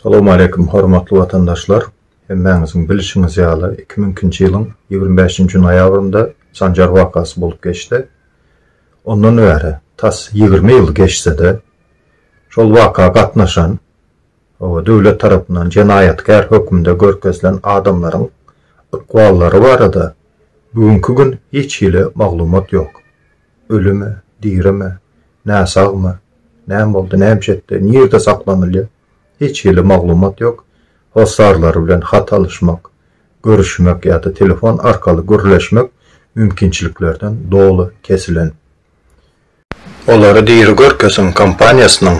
Salam aleýkum hormatly watandaşlar! Hemmäňiziň bilişiňiz ýaly, iki müň ikinji ýylyň ýigrimi bäşinji noýabrynda Sanjar wakasy bolup geçdi. Ondan bäri tas ýigrimi ýyl geçse-de, şol waka gatnaşan Hawa, döwlet tarapyndan jenaýatkär hökmünde görkezilen adamlaryň ykballary barada bu günki gün hiç hili maglumat ýok. Ölümi, dirimi, näsagmy, näme boldy, nämiş etdi, nirde saklanylýar, hiç hili maglumat ýok. Hossarlary bilen hat alyşmak, görüşmek ýa-da telefon arkaly gürleşmek mümkinçiliklerden doly kesilen. Olary diri görkeziň kompaniýasynyň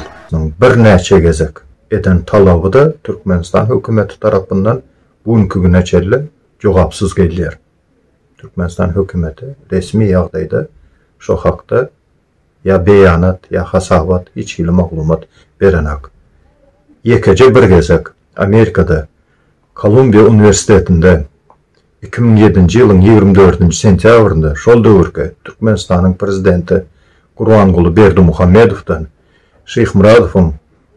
birnäçe gezek eden talaby-da Türkmenistan hökümeti tarapyndan bu günki güne çenli jogapsyz gelýär. Türkmenistan hökümeti resmi ýagdaýda şo hakda ýa beýanat, ýa hasabat, hiç hili maglumat berenak. Ýekeje bir gezek Amerikada Kolumbiýa uniwersitetinde Iki müň ýedinji ýylyň ýigrimi dördünji sentýabrynda şol döwürki Türkmenistanyň Prezidenti Gurbanguly Berdimuhamedowdan Şyhmyradowyň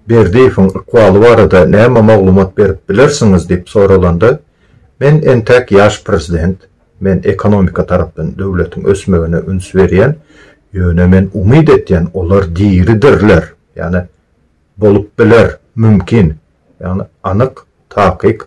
Berdiýewiň ykbaly barada näme maglumat berip bilersiňiz diýip soralanda, Men entäk ýaş Prezident, men ekonomika tarapdan döwletiň ösmegine üns berýän, ýöne men umyt etýän olar diridirler, ýagny bolup biler, mümkin, ýagny anyk, takyk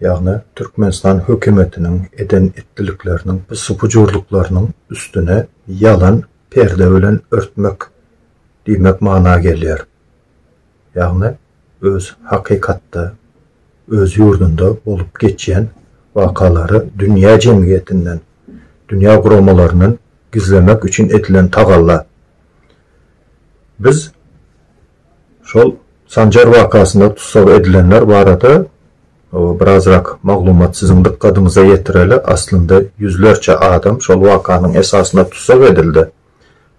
Ýagny Türkmenistan hökümetiniň eden etdilikleriniň bu supujurlyklarynyň üstüne ýalan perde bilen örtmek diýmek mana gelýär. Ýagny öz hakykatda öz ýurdunda bolup geçýän wakalary dünýä jemgyýetinden, dünýä guramalaryndan gizlemek üçin edilen tagalla. Biz Şol Sanjar wakasynda tussag edilenler barada birazrak maglumat siziň dykgadyňyza ýetireli, aslynda ýüzlerçe adam şol wakanyň esasynda tussag edildi.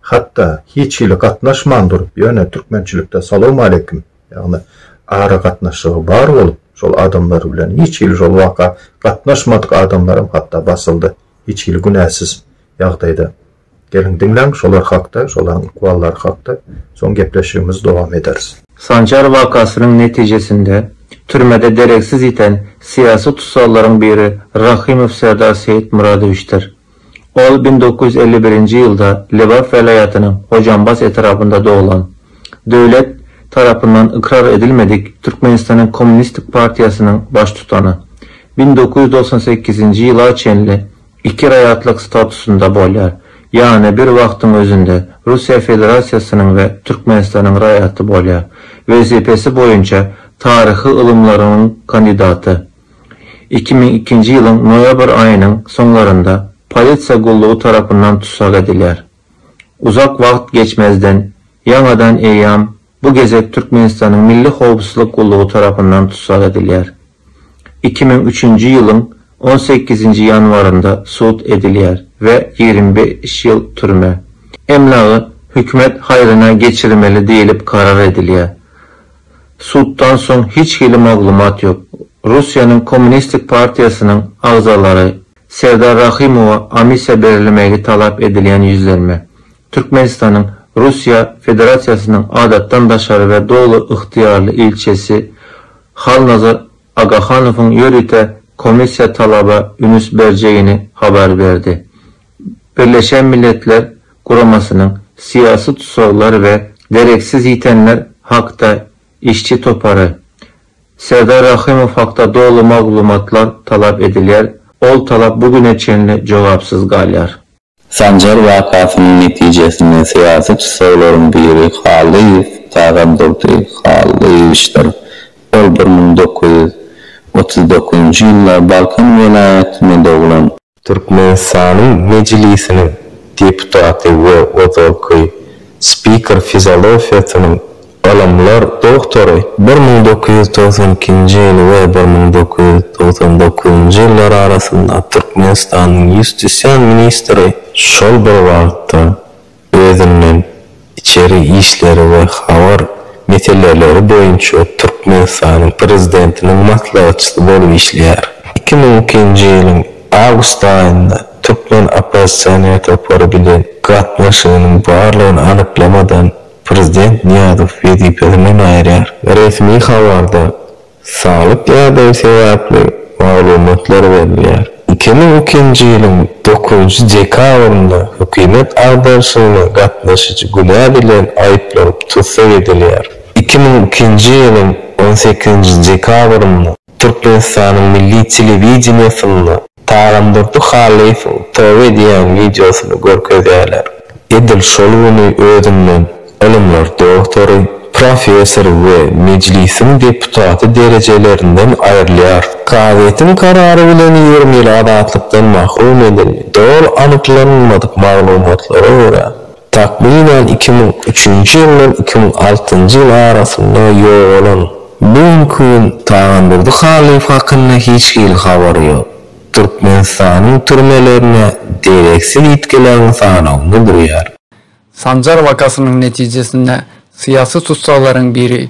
Hatda hiç hili gatnaşman durup, ýöne türkmençilikde salowmaleýkim, ýagny aragatnaşygy bar bolup şol adamlar bilen hiç hili şol waka gatnaşmadyk adamlaram hatda basyldy, hiç hili günäsiz ýagdaýda. Geliň diňläň şolar hakda, şolaryň ykballary hakda, soň gepleşigimizi dowam ederis. Sanjar wakasynyň netijesinde türmede dereksiz ýiten syýasy tussaglaryň biri Rahymow Serdar Seýitmyradowiçdir. Ol bir müň dokuz ýüz elli birinji ýylda Lebap welaýatynyň Hojambaz etrabynda doglan. Döwlet tarapyndan ykrar edilmedik Türkmenistanyň Kommunistik partiýasynyň baştutany. Bir müň dokuz ýüz togsan sekizinji ýyla çenli iki raýatlyk statusynda bolýar, ýagny bir wagtyň özünde Russiýa Federasiýasynyň we Türkmenistanyň raýaty bolýar, wezipesi boýunça taryhy ylymlarynyň kandidaty. Iki müň ikinji ýylyň noýabr aýynyň soňlarynda polisiýa gullugy tarapyndan tussag edilýär. Uzak wagt geçmezden, ýaňadan eýýam bu gezek Türkmenistanyň Milli howpsuzlyk gullugy tarapyndan tussag edilýär. Iki müň üçünji ýylyň on sekizinji ýanwarynda sud edilýär we ýigrimi bäş ýyl türme. Emlagy hökümet haýryna geçirmeli diýlip karar edilýär. Suddan soň hiç hili maglumat ýok. Russiýanyň Kommunistik partiýasynyň agzalary Serdar Rahymowa amnistiýa berilmegi talap edilýän ýüzlenme, Türkmenistanyň Russiýa Federasiýasynyň Adatdan daşary we Doly ygtyýarly ilçisi Halnazar Agahanowyň ýörite komissiýa talaba ünüs berjegini habar berdi. Birleşen Milletler Guramasynyň Syýasy tussaglar we dereksiz ýitenler hakda Işçi topary, Serdar Rahymow hakda doly maglumatlar talap edilýär, ol talap bu güne çenli jogapsyz galýar. Sanjar wakasynyň netijesinde syýasy tussaglaryň biri Hallyýew Tagandurdy Hallyýewiçdir. Ol bir müň dokuz ýüz otuz dokuzynjy ýylda Balkan welaýatynda doglan. Türkmenistanyň Mejlisiniň deputaty we ozalky spiker fizolofiýasynyň ylymlar doktory. Bir müň dokuz ýüz togsan ikinji ýyl we bir müň dokuz ýüz togsan dokuzynjy ýyllar arasynda Türkmenistanyň ýustisiýa ministri, şol bir wagtda özünden içeri işleri we habar meseleleri boýunça Türkmenistanyň Prezidentiniň maslahatçysy bolup işleýär. Iki müň ikinji ýylyň awgust aýynda türkmen oppozisioner topary bilen gatnaşygynyň barlygyny anyklamadan Prezident Nyýazow wezipesinden aýyrýar. Resmi habarda Saglyk ýagdaýy sebäpli maglumatlar berilýär. Iki müň ikinji ýylyň dokuzynjy dekabrynda hökümet agdarşygyna gatnaşyjy günä bilen aýyplanyp tussag edilýär. Iki müň ikinji ýylyň on sekizinji dekabrynda Türkmenistanyň milli telewideniýesinde Tagandurdy Halyfow Tobe diýýän wideosyny görkezýärler. Edil şol güni özünden ylymlar doktory, professor we Mejlisiň deputaty derejelerinden aýrylýar. Kazyýetiň karary bilen ýigrimi ýyl azatlykdan mahrum edildi. Doly anyklanylmadyk maglumatlara görä, Takmynan iki müň üçünji ýyldan iki müň altynjy ýyl arasynda ýogalan. Bu günki gün Tagandurdy Halyýew hakynda hiç hili habar ýok. Türkmenistanyň türmelerine dereksiz ýitgileriň sanawynda durýar. Sanjar wakasynyň netijesinde syýasy tussaglaryň biri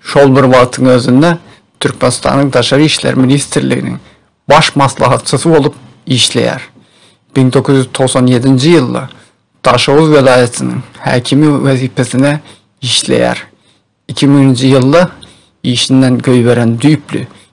Şol bir wagtyň özünde Türkmenistanyň Daşary işler ministrliginiň Baş maslahatçysy bolup işleýär. Bin dokuz ýüz togsan ýedinji ýylda Daşoguz welaýatynyň häkimi wezipesine işleýär. Iki müňünji ýylda işinden göýberen düýpli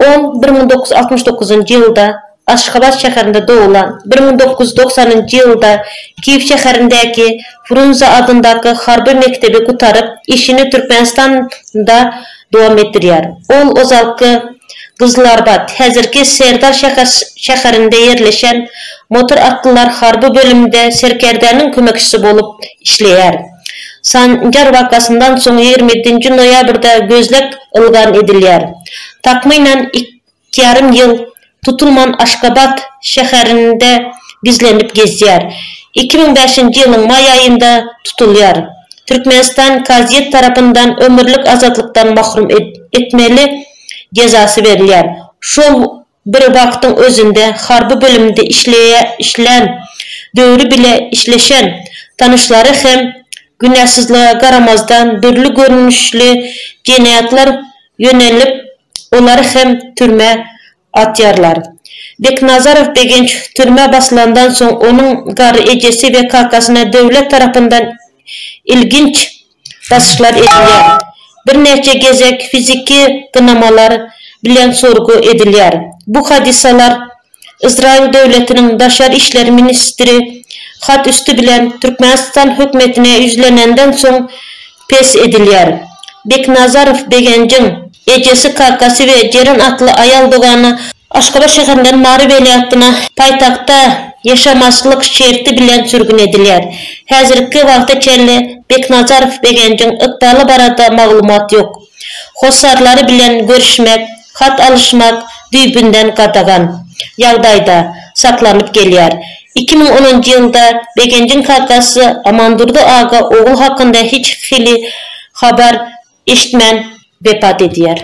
Ol bir müň dokuz ýüz altmyş dokuzynjy ýylda Aşgabat şäherinde doglan. Bir müň dokuz ýüz doksanynjy ýylda Kiýew şäherindäki Frunze adyndaky harby mekdebi gutaryp, işini Türkmenistanda dowam etdirýär. Ol ozalky Gyzylarbat, häzirki Serdar şäherinde ýerleşen motor atlylar harby bölüminde serkerdäniň kömekçisi bolup işleýär. Sanjar wakasyndan soň ýigrimi ýedinji noýabrda gözleg ylgam edilýär. Takmynan iki ýarym ýyl tutulman Aşgabat şäherinde gizlenip gezýär. Iki müň bäşinji ýylyň maý aýynda tutulýar. Türkmenistan kazyýet tarapyndan ömürlik azatlykdan mahrum etmeli jezasy berilýär. Şol Bir wagtyň özünde harby bölümde işleýä-işlän, döwri bile işleşen tanyşlary hem günäsizlige garamazdan dürli görnüşli jenaýatlar ýönelip, olary hem türmä atýarlar. Beknazarow Begenç türmä basylandan soň onuň garry ejesi we kakasyna döwlet tarapyndan ilginç baslyşlar edilýär, birnäçe gezek fiziki gynamalar bilen sorgy edilýär. Bu hadysalar Ysraýyl döwletiniň daşary işler ministri hat üsti bilen Türkmenistan hökümetine ýüzlenenden soň pes edilýär. Beknazarow Begenjiň. Ejesi, kakasy we Jeren atly aýal dogany Aşgabat şäherinden Mary welaýatyna paýtagta ýaşamazçylyk şerti bilen sürgün edilýär. Häzirki wagta çenli Beknazarow Begenjiň ykbaly barada maglumat ýok. Hossarlary bilen görüşmek, hat alyşmak düýbünden gadagan ýagdaýda saklanyp gelýär. Iki müň onunjy ýylda Begenjiň kakasy Amandurdy aga ogly hakynda hiç hili habar eşitmän wepat edýär.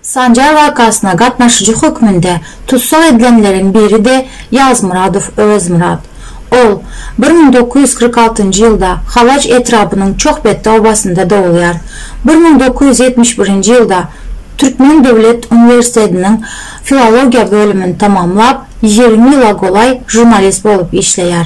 Sanjar wakasyna gatnaşyjy hökmünde tussag edilenleriň biri-de Ýazmyradow Öwezmyrat. Ol bir müň dokuz ýüz kyrk altynjy ýylda Halaç etrabynyň Çohbetdi obasynda dogulýar. Bir müň dokuz ýüz ýetmiş birinji ýylda Türkmen döwlet uniwersitetiniň filologiýa bölümini tamamlap, ýigrimi ýyla golaý žurnalist bolup işleýär.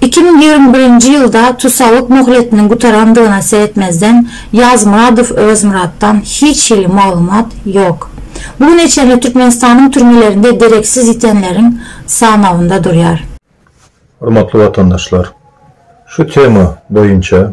Iki müň ýigrimi birinji ýylda tussaglyk möhletiniň gutarandygyna seretmezden, Ýazmyradow Öwezmyratdan hiç hili maglumat ýok. Bu güne çenli Türkmenistanyň türmelerinde dereksiz ýitenleriň sanawynda durýar. Hormatly watandaşlar! Şu tema boýunça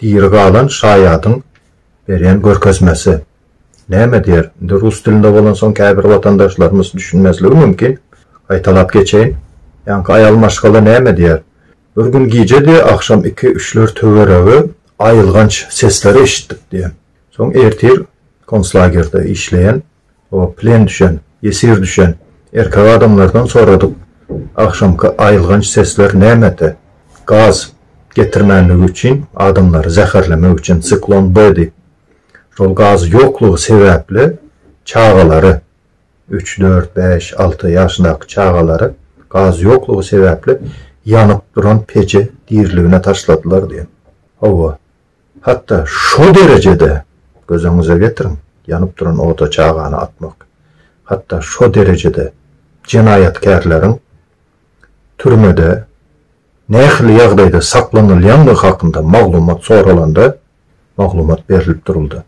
Diri galan şaýadyň berýän görkezmesi. Näme diýer, indi rus dilinde bolansoň käbir watandaşlarymyz düşünmezligi mümkin, gaýtalap geçeýin. Ýaňky aýal maşgala näme diýer, Bir gün gijedi agşam iki-üçler töweregi aýylganç sesleri eşitdik diýen. Soň ertir konslagerde işleýän O plen düşen, ýesir düşen erkek adamlardan soradyk, Agşamky aýylganç sesler nämede? Gaz getirmänligi üçin, adamlary zäherlemek üçin Siklon B diýip. Şol gaz ýoklugy sebäpli çagalary, üç, dört, bäş, alty ýaşyndaky çagalary gaz ýoklugy sebäpli ýanyp duran peje diriligine taşladylar diýen. Hawa, Hatda şo derejede, göz öňüňize getiriň, ýanyp duran oda çagany atmak, hatda şo derejede jenaýatkärleriň türmede nähili ýagdaýda saklanylýandygy hakynda maglumat soralanda, maglumat berlip duruldy.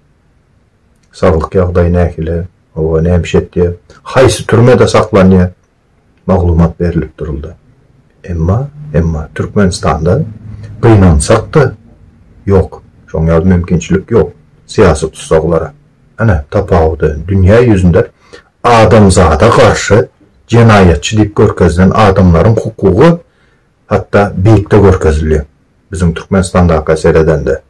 Saglyk ýagdaýy nähili, oba näme iş etýär, haýsy türmede saklanýar? maglumat berlip duruldy. Emma, emma Türkmenistanda gynansak-da, ýok, şoň ýaly mümkinçilik ýok syýasy tussaglara. Ine, tapawudy, dünýä ýüzünde adamzada garşy jenaýatçy diýip görkezilen adamlaryň hukugy hatda beýikde görkezilýär, biziň Türkmenistandaka seredende.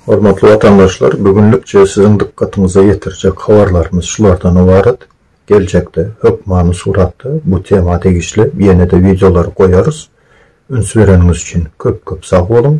Hormatly watandaşlar, bu günlükçe siziň dykgatyňyza ýetirjek habarlarymyz şulardan ybarat. Geljekde hökmany suratda bu tema degişli ýene-de wideolary goýarys. Üns bereniňiz üçin köp-köp sag boluň!